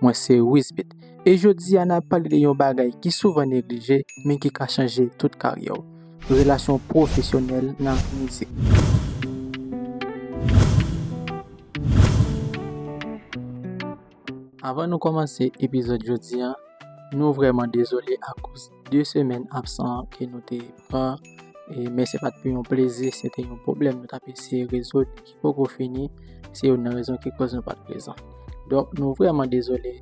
Mwen se Wisbit e jodi a nap pale de yon bagay ki souvan neglije men ki ka chanje tout karyè w, relasyon pwofesyonèl nan mizik. Avan nou kòmanse epizòd jodi a, nou vrèman dezole akoz 2 semèn absan ke nou te pran, men se pat pou yon plezi, se te yon pwoblèm nou tap eseye rezoud. poko fini, se youn nan rezon ki kòz nou pat prezan. Donk nou vrèman dezole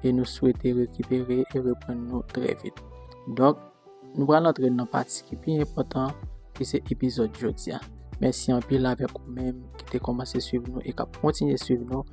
e nou swete rekipere e reprann nou trè vit. Donk nou pral antre nan pati ki pi enpòtan ki se epizòd jodi a. Mèsi anpil avèk ou menm ki te kòmanse swiv nou e kap kontinye swiv nou.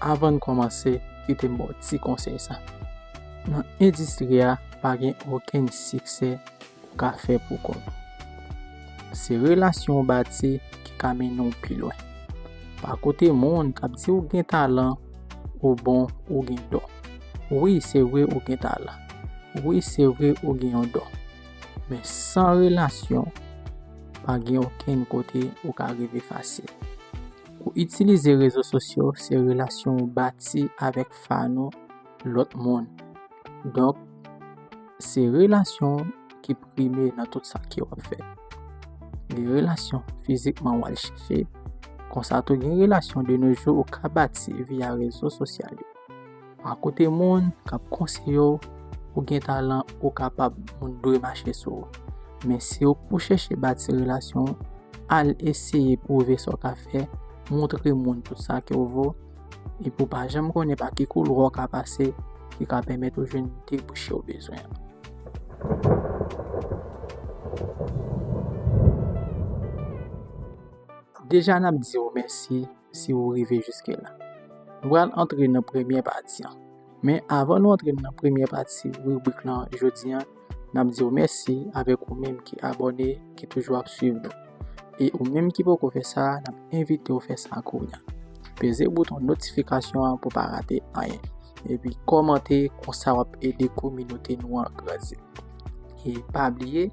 Avan n kòmanse, kite m ba w ti konsèy sa, Nan endistri a, pa gen okenn siksè ou ka fè pou kont ou. Se relasyon w bati ki ka mennen w pi lwen. Pa koute moun k ap di w gen talan, ou bon, ou gen don. Wi, se vre ou gen talan. Wi, se vre ou gen yon don. Men san relasyon, pa gen okenn kote ou ka rive fasil. Pou itilize rezo sosyo se relasyon ou bati avèk fan ou, lòt moun. Donk, se relasyon ki prime nan tout sa ke wap fè. Gen relasyon fizikman wal chèche, konsa tou gen relasyon de no jou ou ka bati via rezo sosyal yo. A kote moun kap konseye w, ou gen talan, ou kapab, moun dwe mache sou ou. Men si w pou chèche bati relasyon, al eseye pwouve sa w ka fè, montre moun tout sa ke w vo, epi w pa janm konnen pa ki koulwa w ka pase ki ka pèmèt ou jwenn debouche w bezwen an. Deja nap di w mèsi si ou rive jiske la. Nou pral antre nan premye pati an. Men avan nou antre nan premye pati ribrik lan jodi an, n ap di ou mèsi avèk ou menm ki abòne, ki toujou ap swiv nou. E ou menm ki poko fè sa, n ap envite ou fè sa kounya. Peze bouton notifikasyon an pou pa rate anyen. Epi kòmante, konsa w ap ede kominote nou an grandi. E pa bliye,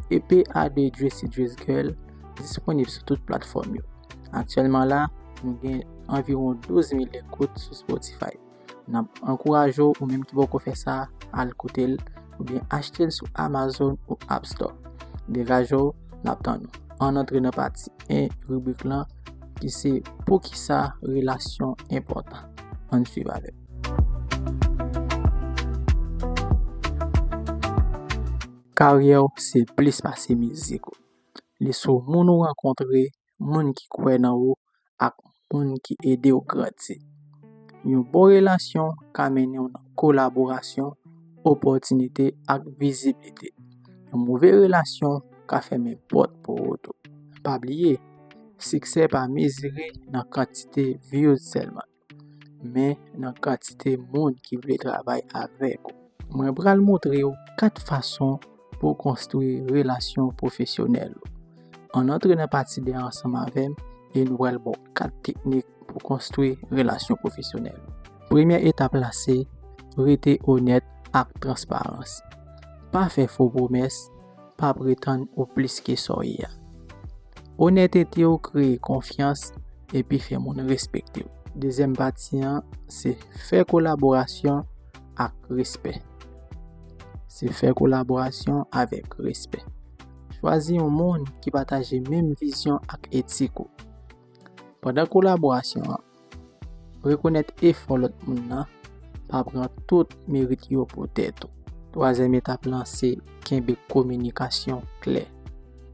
EP a de Dressy Dress Girl disponib sou tout platfòm yo. Aktyèlman la, nou gen anviwon 12 mil ekout sou Spotify. N ap ankouraje w, ou menm ki poko fè sa, al koute l, oubyen achte l sou Amazon ou App Store. Degaje w, n ap tann ou. Ann antre nan pati 1 ribrik lan ki se Poukisa relasyon enpòtan? Ann swiv avè m. Karyè w se plis pase mizik ou. Li sou moun ou rankontre, moun ki kwè nan ou ak moun ki ede w grandi. Yon bon relasyon ka mennen w nan kolaborasyon, opòtinite ak viziblite. Yon move relasyon ka fèmen pòt pou ou tou. Pa bliye, siksè pa mezire nan kantite views sèlman. men nan kantite moun ki vle travay avèk ou. Mwen pral montre ou 4 fason pou w konstwi relasyon pwofesyonèl ou. Ann antre nan pati 2 an ansanm avè m e nou pral ba w 4 teknik pou konstwi relasyon pwofesyonèl ou. Premye etap la se rete onèt ak transparans. Pa fè fo pwomès, pa pretann ou plis ke sa w ye a. Onètete w kreye konfyans epi fè moun respekte w. Dezyèm pati an se fè kolaborasyon ak respè. Se fè kolaborasyon avèk respè. Chwazi yon moun ki pataje menm vizyon ak etik ou. Pandan kolaborasyon an, Rekonèt efò lòt moun nan, pa pran tout merit yo pou tèt ou. Twazyèm etap lan se kenbe kominikasyon klè.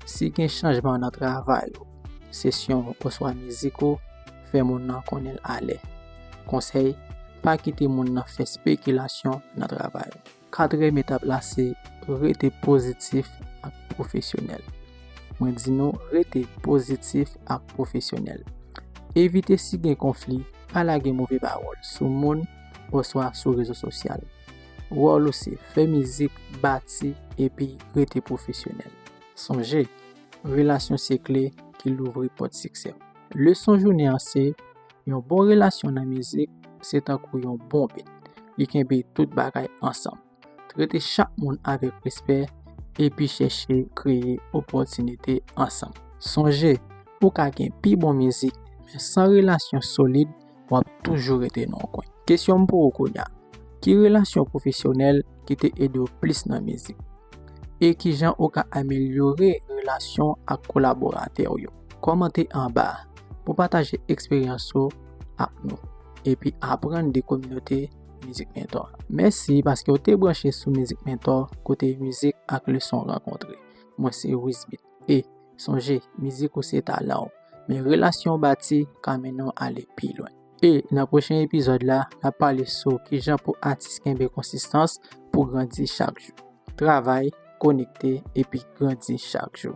Si gen chanjman nan travay ou, sesyon ou oswa mizik ou, fè moun nan konnen l alè. Konsèy, Pa kite moun nan fè spekilasyon nan travay ou. Katriyèm etap la se rete pozitif ak pwofesyonèl. Mwen di nou rete pozitif ak pwofesyonèl. Evite si gen konfli, pa lage move pawòl sou moun oswa sou rezo sosyal. Wòl ou se fè mizik, bati epi rete pwofesyonèl. Sonje, relasyon se kle ki louvri pòt siksè w. Leson jounen an se, Yon bon relasyon nan mizik se tankou yon bon bit, li kenbe tout bagay ansanm. Trete chak moun avèk respè epi chèche kreye opòtinite ansanm. Sonje, ou ka gen pi bon mizik, men san relasyon solid, w ap toujou rete nan yon kwen. Kesyon m pou ou kounya, ki relasyon pwofesyonèl ki te ede w plis nan mizik? E kijan ou ka amelyore relasyon ak kolaboratè w yo? Kòmante anba pou pataje eksperyans ou ak nou epi aprann de kominote Mizik Mentò a. Mèsi paske ou te branche sou Mizik Mentò kote mizik ak leson rankontre. Mwen se Wisbit e, sonje, mizik ou se talan ou, men relasyon ou bati ka mennen w ale pi lwen. E nan pwochen epizòd la, n ap pale sou kijan pou atis kenbe konsistans pou grandi chak jou. Travay, konekte, epi grandi chak jou.